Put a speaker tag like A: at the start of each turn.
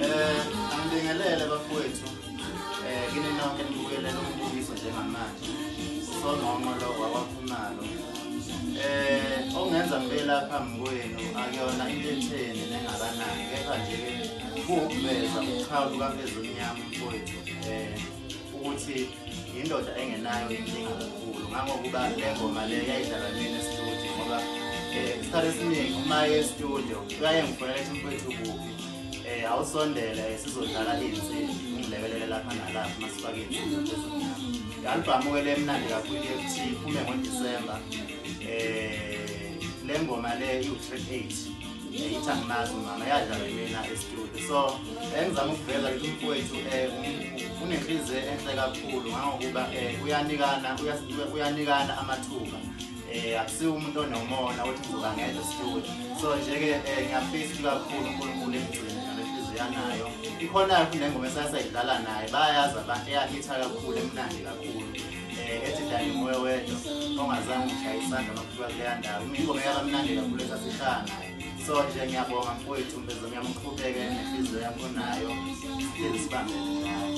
A: Eh, angibingelele bafowethu. Eh, kini nonke nibukelele umbukiso njengamanje. Sonqonqo lo wawaphumalo. Eh, ongenza ngibe lapha mkwenu akuyona into etheni nengakanani kepha nje kuwukuveza uqhawe lukaphezulu mnyama mfowethu. Eh, ukuthi yindoda engenayo inkinga kakhulu ngangokuba le ngoma le yayidlala mina estudio ngoba eh, isikhathi esiningi uma ye estudio uyaye ngifonela ethi mfethu kuphi um awusondele sizodlala iy'nsimbi ungilekelele lapha nalapha uma sifake iy'nsimbi i-albhamu-ke le mnandi kakhulu ye-ft iphume ngodisemba um eh, le ngoma le iwu-track eight ngithi angimazi umama yadlala mina estudio so engizama ukuveza ukuthi umfowethu um unenhliziyo enhle kakhulu ngangokuba um uyanikana uyanikana amathuba um akusiwo umuntu onomona ukuthi ngizoba ngedwa estudio so nje-ke um ngiyafisa ukuthi kakhulu unkulunkulu emgcini nalenhliziyo yanayo ikhona-ke futhi nengoma esasayidlala naye bayayazi abantu eyahitha kakhulu emnandi kakhulu Eh, ethi dani moya wedwa ongazange ngishaya isandla makuthiwa kuleya ndawo ingoma yakamnandi kakhulu esasihlala naye so nje ngiyabonga mfowethu mbezo ngiyamqhubeke nenhliziyo yakho nayo sihlezi sibambele nayo